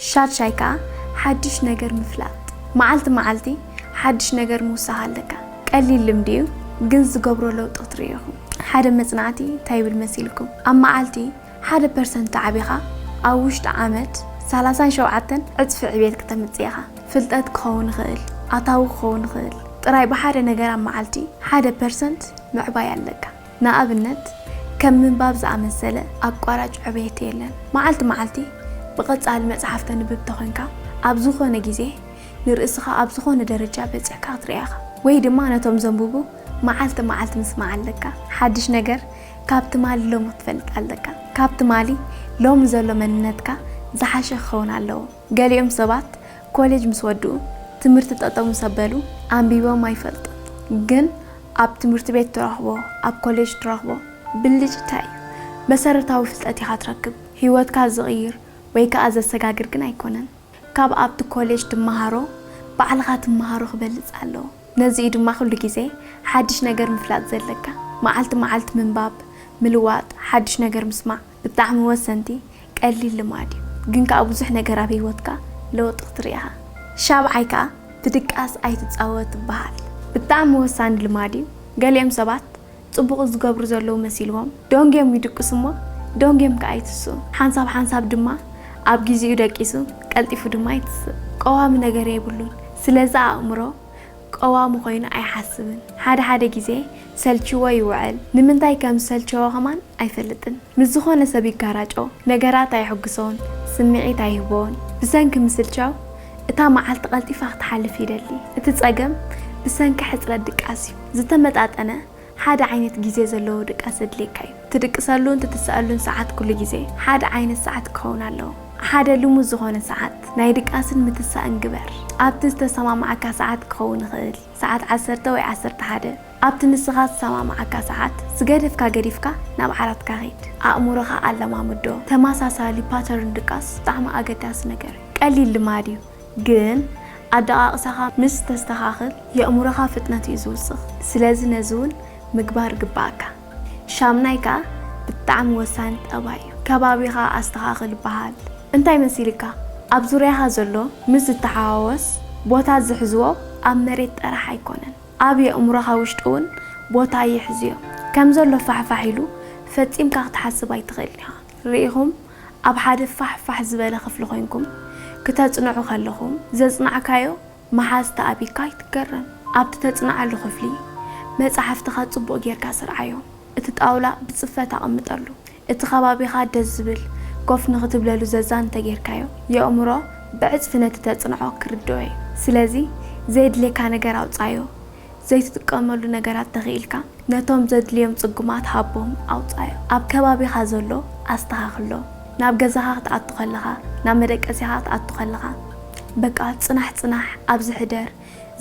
ሻድሻይ ከኣ ሓድሽ ነገር ምፍላጥ። መዓልቲ መዓልቲ ሓድሽ ነገር ምውሳኽ ኣለካ። ቀሊል ልምዲ እዩ ግን ዝገብሮ ለውጢ ክትርእዩ ኢኹም። ሓደ መጽናዕቲ እንታይ ይብል መሲልኩም? ኣብ መዓልቲ ሓደ ፐርሰንት ተዓቢኻ ኣብ ውሽጢ ዓመት ሰላሳን ሸውዓተን ዕጽፊ ዕብየት ክተምጽእ ኢኻ። ፍልጠት ክኸውን ይኽእል፣ ኣታዊ ክኸውን ይኽእል፣ ጥራይ ብሓደ ነገር ኣብ መዓልቲ ሓደ ፐርሰንት ምዕባይ ኣለካ። ንኣብነት ከም ምንባብ ዝኣመሰለ ኣቋራጭ ዕብየት የለን። መዓልቲ መዓልቲ ብቐጻሊ መጽሓፍ ተንብብ ተኾንካ፣ ኣብ ዝኾነ ግዜ ንርእስኻ ኣብ ዝኾነ ደረጃ በጺሕካ ክትርኣ ኢኻ። ወይ ድማ ነቶም ዘንብቡ መዓልቲ መዓልቲ ምስማዕ ኣለካ። ሓድሽ ነገር ካብ ትማሊ ሎሚ ክትፈልጥ ኣለካ። ካብ ትማሊ ሎሚ ዘሎ መንነትካ ዝሓሸ ክኸውን ኣለዎ። ገሊኦም ሰባት ኮሌጅ ምስ ወድኡ፣ ትምህርቲ ጠጠው ምስ ኣበሉ ኣንቢቦም ኣይፈልጡን። ግን ኣብ ትምህርቲ ቤት ትረኽቦ ኣብ ኮሌጅ ትረኽቦ ብልጭታ እዩ። መሰረታዊ ፍልጠት ኢኻ ትረክብ፣ ህይወትካ ዝቕይር ወይ ከኣ ዘሰጋግር ግን ኣይኮነን። ካብ ኣብቲ ኮሌጅ ትመሃሮ ባዕልኻ ትመሃሮ ክበልጽ ኣለዎ። ነዚ እዩ ድማ ኩሉ ግዜ ሓድሽ ነገር ምፍላጥ ዘለካ። መዓልቲ መዓልቲ ምንባብ፣ ምልዋጥ፣ ሓድሽ ነገር ምስማዕ፣ ብጣዕሚ ወሰንቲ ቀሊል ልማድ እዩ ግን ከኣ ብዙሕ ነገር ኣብ ሂወትካ ለውጢ ክትርኢ ኢኻ ሻብዓይ ከኣ ብድቃስ ኣይትጻወት ይበሃል ብጣዕሚ ወሳኒ ልማድ እዩ ገሊኦም ሰባት ጽቡቕ ዝገብሩ ዘለዉ መሲልዎም ደንጊዮም ይድቅሱ እሞ ደንጊዮም ከኣ ይትስኡ ሓንሳብ ሓንሳብ ድማ ኣብ ጊዚኡ ደቂሱ ቀልጢፉ ድማ ይትስእ ቀዋሚ ነገር የብሉን ስለዚ ኣእምሮ ቀዋሚ ኮይኑ ኣይሓስብን ሓደ ሓደ ግዜ ሰልቺዎ ይውዕል ንምንታይ ከም ዝሰልቸዎ ከማን ኣይፈልጥን ምስ ዝኮነ ሰብ ይጋራጮ ነገራት ኣየሕጉሶን ስምዒት ኣይህቦን ብሰንኪ ምስልቻው እታ መዓልቲ ቀልጢፋ ክትሓልፍ ይደሊ እቲ ጸገም ብሰንኪ ሕጽረት ድቃስ እዩ ዝተመጣጠነ ሓደ ዓይነት ግዜ ዘለዎ ድቃስ ዘድልየካ እዩ። ትድቅሰሉን ትትሰኣሉን ሰዓት ኩሉ ግዜ ሓደ ዓይነት ሰዓት ክኸውን ኣለዎ። ሓደ ልሙድ ዝኾነ ሰዓት ናይ ድቃስን ምትሳእን ግበር። ኣብቲ ዝተሰማማዓካ ሰዓት ክኸውን ይኽእል፣ ሰዓት ዓሰርተ ወይ ዓሰርተ ሓደ፣ ኣብቲ ንስኻ ዝሰማማዓካ ሰዓት ዝገደፍካ ገዲፍካ ናብ ዓራትካ ኺድ። ኣእምሮኻ ኣለማምዶ። ተመሳሳሊ፣ Pattern፣ ድቃስ ብጣዕሚ ኣገዳሲ ነገር እዩ። ቀሊል ልማድ እዩ። ግን ኣደቓቕሳኻ ምስ ተስተኻኽል የእሙሮኻ ፍጥነት እዩ ዝውስኽ ስለዚ ነዚ ውን ምግባር ግበኣካ። ሻምናይ ከኣ ብጣዕሚ ወሳኒ ጠባይ እዩ ከባቢኻ ኣስተኻኽል በሃል። እንታይ መሲልካ ኣብ ዙርያኻ ዘሎ ምስ ዝተሓዋወስ ቦታ ዝሕዝዎ ኣብ መሬት ጠራሕ ኣይኮነን ኣብ የእሙሮኻ ውሽጢ ውን ቦታ ይሕዝዮ ከምዘሎ ፋሕፋሕ ኢሉ ፈጺምካ ክትሓስብ ኣይትኽእልን ኢኻ። ርኢኹም ኣብ ሓደ ፋሕ ፋሕ ዝበለ ክፍሊ ኮይንኩም ክተጽንዑ ከለኹም ዘጽናዕካዮ ምሓዝ ተኣቢካ ኣይትገረም። ኣብቲ ተጽንዓሉ ክፍሊ መጻሕፍትኻ ጽቡቕ ጌርካ ስርዓዮ፣ እቲ ጣውላ ብጽፈት ኣቐምጠሉ፣ እቲ ከባቢኻ ደስ ዝብል ኮፍ ንኽትብለሉ ዘዛኒ እንተጌርካዮ የእምሮ ብዕጽፊ ነቲ ተጽንዖ ክርድኦ እዩ። ስለዚ ዘየድልየካ ነገር ኣውጽኣዮ። ዘይትጥቀመሉ ነገራት ተኺኢልካ ነቶም ዘድልዮም ጽጉማት ሃቦም ኣውጻዮም። ኣብ ከባቢኻ ዘሎ ኣስተኻኽሎ። ናብ ገዛኻ ክትኣቱ ከለኻ፣ ናብ መደቀሲኻ ክትኣቱ ከለኻ በቃ ጽናሕ ጽናሕ ኣብዚ ሕደር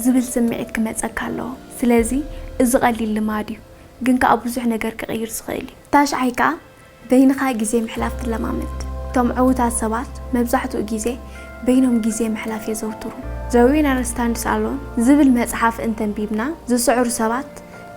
ዝብል ስምዒት ክመጸካ ኣለዎ። ስለዚ እዚ ቀሊል ልማድ እዩ ግን ከኣ ብዙሕ ነገር ክቕይር ዝኽእል እዩ። ታሽዓይ ከኣ በይንኻ ግዜ ምሕላፍ ትለማመድ። እቶም ዕዉታት ሰባት መብዛሕትኡ ግዜ በይኖም ግዜ ምሕላፍ የዘውትሩ። The Winner Stands Alone ዝብል መጽሓፍ እንተንቢብና፣ ዝስዕሩ ሰባት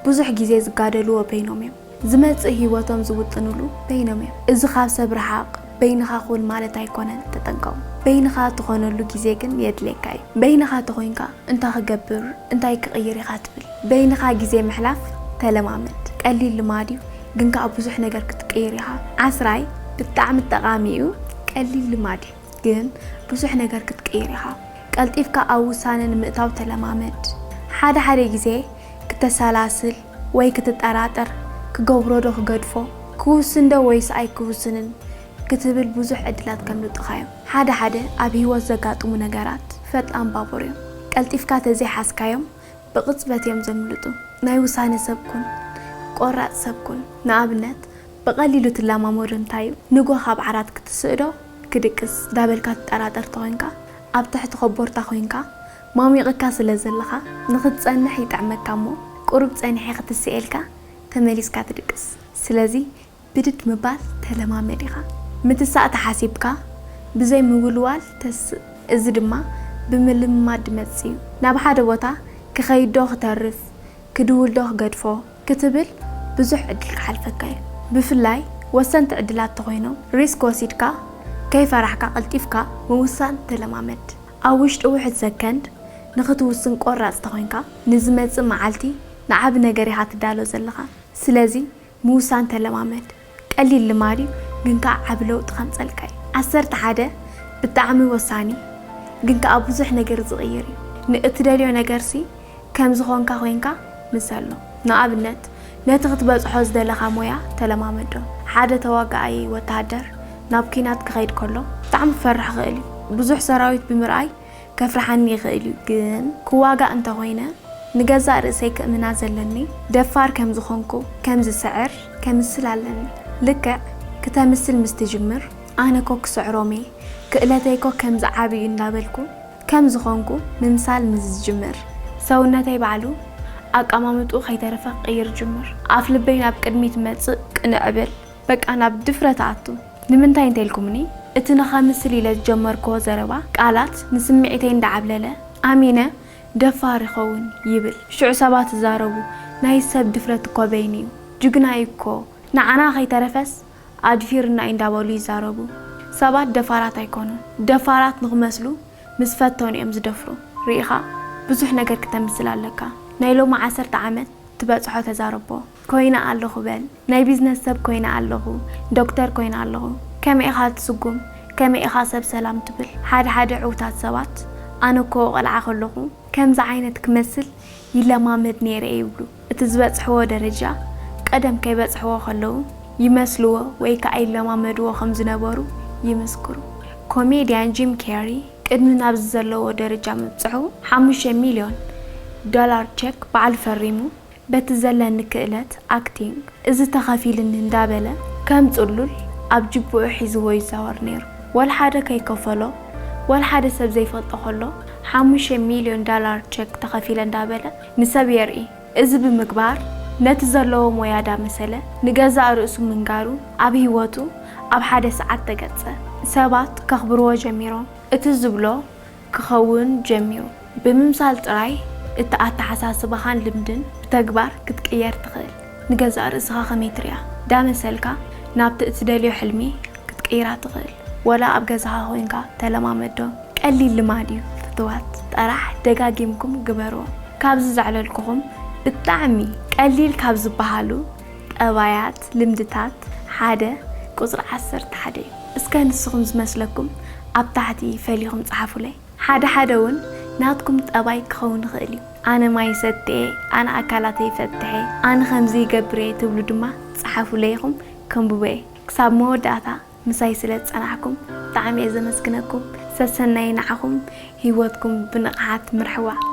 ብዙሕ ግዜ ዝጋደልዎ በይኖም እዮም። ዝመጽእ ህይወቶም ዝውጥንሉ በይኖም እዮም። እዚ ካብ ሰብ ርሓቕ፣ በይንኻ ኩን ማለት ኣይኮነን፣ ተጠንቀቑ። በይንኻ ትኾነሉ ግዜ ግን የድልየካ እዩ። በይንኻ ተኾይንካ እንታይ ክገብር፣ እንታይ ክቕይር ኢኻ ትብል። በይንኻ ግዜ ምሕላፍ ተለማመድ። ቀሊል ልማድ እዩ። ግን ከኣ ብዙሕ ነገር ክትቅይር ኢኻ። ዓስራይ ብጣዕሚ ጠቓሚ እዩ፣ ቀሊል ልማድ እዩ፣ ግን ብዙሕ ነገር ክትቅይር ኢኻ። ቀልጢፍካ ኣብ ውሳነ ንምእታው ተለማመድ። ሓደ ሓደ ግዜ ክተሰላስል ወይ ክትጠራጠር፣ ክገብሮ ዶ ክገድፎ፣ ክውስን ዶ ወይስ ኣይክውስንን ክትብል ብዙሕ ዕድላት ከምልጡኻ እዮም። ሓደ ሓደ ኣብ ህይወት ዘጋጥሙ ነገራት ፈጣን ባቡር እዮም፣ ቀልጢፍካ ተዘይሓዝካዮም ብቕጽበት እዮም ዘምልጡ። ናይ ውሳነ ሰብ ኩን። ቆራጽ ሰብ ኩን። ንኣብነት፣ ብቐሊሉ ትለማመዶ እንታይ እዩ? ንግሆ ካብ ዓራት ክትስእዶ? ክድቅስ? ዳበልካ ትጠራጠር ተኾይንካ፣ ኣብ ትሕቲ ኮቦርታ ኮይንካ፣ ማሚቕካ ስለ ዘለኻ፣ ንኽትጸንሕ ይጥዕመካ እሞ፣ ቁሩብ ጸኒሐ ክትስኤልካ፣ ተመሊስካ ትድቅስ። ስለዚ ብድድ ምባል ተለማመድ ኢኻ። ምትሳእ ተሓሲብካ ብዘይ ምውልዋል ተስእ። እዚ ድማ ብምልምማድ ድመጽእ እዩ። ናብ ሓደ ቦታ ክኸይድዶ ክተርፍ፣ ክድውልዶ ክገድፎ ክትብል ብዙሕ ዕድል ክሓልፈካ እዩ። ብፍላይ ወሰንቲ ዕድላት ተኾይኖም ሪስክ ወሲድካ ከይፈራሕካ ቀልጢፍካ ምውሳን ተለማመድ። ኣብ ውሽጢ ውሑድ ሰከንድ ንኽትውስን ቆራጽ ተኾይንካ ንዝመጽእ መዓልቲ ንዓቢ ነገር ኢኻ ትዳሎ ዘለኻ። ስለዚ ምውሳን ተለማመድ። ቀሊል ልማድ እዩ ግን ከኣ ዓቢ ለውጢ ከምጸልካ እዩ። ዓሰርተ ሓደ ብጣዕሚ ወሳኒ ግን ከኣ ብዙሕ ነገር ዝቕይር እዩ። ንእትደልዮ ነገርሲ ከም ዝኾንካ ኮይንካ ምሰሎ። ንኣብነት ነቲ ክትበጽሖ ዝደለኻ ሞያ ተለማመዶ። ሓደ ተዋጋኣይ ወተሃደር ናብ ኲናት ክኸይድ ከሎ። ብጣዕሚ ክፈርሕ ይኽእል እዩ። ብዙሕ ሰራዊት ብምርኣይ። ከፍርሓኒ ይኽእል እዩ ግን ክዋጋእ እንተኾይነ ንገዛእ ርእሰይ ክእምና ዘለኒ ደፋር ከም ዝኾንኩ ከም ዝስዕር ከምስል ኣለኒ ልክዕ ክተምስል ምስ ትጅምር ኣነ እኮ ክስዕሮም እየ ክእለተይ እኮ ከምዚ ዓቢ እዩ እንዳበልኩ ከም ዝኾንኩ ምምሳል ምስ ዝጅምር ሰውነተይ ባዕሉ ኣቀማምጥኡ ከይተረፈ ክቅይር ይጅምር ኣፍ ልበይ ናብ ቅድሚት መጽእ ቅንዕ እብል በቃ ናብ ድፍረት እኣቱ ንምንታይ እንተ ኢልኩምኒ፣ እቲ ንኸምስል ኢለ ዝጀመርክዎ ዘረባ ቃላት ንስምዒተይ እንዳ ዓብለለ ኣሚነ ደፋር ይኸውን ይብል። ሽዑ ሰባት ይዛረቡ፣ ናይ ሰብ ድፍረት እኮ በይኑ'ዩ፣ ጅግና'ዩ እኮ፣ ንዓና ከይተረፈስ ኣድፊሩና'ዩ እንዳ በሉ ይዛረቡ። ሰባት ደፋራት ኣይኮኑን፣ ደፋራት ንኽመስሉ ምስ ፈተኑ'ዮም ዝደፍሩ። ርኢኻ ብዙሕ ነገር ክተምስል ኣለካ። ናይ ሎሚ ዓሰርተ ዓመት ትበጽሖ ተዛረቦ። ኮይነ ኣለኹ በል። ናይ ቢዝነስ ሰብ ኮይነ ኣለኹ፣ ዶክተር ኮይነ ኣለኹ። ከመይ ኢኻ ትስጉም? ከመይ ኢኻ ሰብ ሰላም ትብል? ሓደ ሓደ ዕውታት ሰባት ኣነ እኮ ቘልዓ ከለኹ ከምዚ ዓይነት ክመስል ይለማመድ ነይረ ይብሉ። እቲ ዝበጽሕዎ ደረጃ ቀደም ከይበጽሕዎ ከለዉ ይመስልዎ ወይ ከኣ ይለማመድዎ ከም ዝነበሩ ይምስክሩ። ኮሜድያን ጂም ኬሪ ቅድሚ ናብዚ ዘለዎ ደረጃ ምብጽሑ ሓሙሽተ ሚልዮን ዶላር ቸክ ባዕሉ ፈሪሙ። በቲ ዘለኒ ክእለት ኣክቲንግ እዚ ተኸፊልኒ እንዳበለ ከም ጽሉል ኣብ ጅብኡ ሒዝዎ ይዛወር ኔሩ ወልሓደ ከይከፈሎ ወልሓደ ሰብ ዘይፈልጦ ከሎ ሓሙሽተ ሚልዮን ዳላር ቸክ ተኸፊለ እንዳበለ ንሰብ የርኢ እዚ ብምግባር ነቲ ዘለዎ ሞያ ዳመሰለ ንገዛእ ርእሱ ምንጋሩ ኣብ ሂወቱ ኣብ ሓደ ሰዓት ተገጸ ሰባት ከኽብርዎ ጀሚሮም እቲ ዝብሎ ክኸውን ጀሚሩ። ብምምሳል ጥራይ እቲ ኣተሓሳስባኻን ልምድን ብተግባር ክትቅየር ትኽእል። ንገዛእ ርእስኻ ከመይ ትሪኣ? ዳመሰልካ ናብቲ እትደልዮ ሕልሚ ክትቅይራ ትኽእል። ወላ ኣብ ገዛኻ ኮይንካ ተለማመዶ። ቀሊል ልማድ እዩ ፍትዋት ጠራሕ ደጋጊምኩም ግበርዎ። ካብዚ ዘዕለልኩኹም ብጣዕሚ ቀሊል ካብ ዝበሃሉ ጠባያት፣ ልምድታት፣ ሓደ ቁጽሪ ዓሰርተ ሓደ እዩ። እስከ ንስኹም ዝመስለኩም ኣብ ታሕቲ ፈሊኹም ጸሓፉለይ። ሓደ ሓደ ውን ናትኩም ጠባይ ክኸውን ይኽእል ዩ። ኣነ ማይ ይሰቲ'የ፣ ኣነ ኣካላተይ ይፈትሕ'የ፣ ኣነ ከምዚ ይገብር'የ ትብሉ ድማ ጸሓፉለይ ኢኹም ከንብቦ'የ። ክሳብ መወዳእታ ምሳይ ስለ ዝጸናሕኩም ብጣዕሚ'የ ዘመስግነኩም። ሰሰናዩ ንዓኹም። ሂወትኩም ብንቕሓት ምርሕዋ።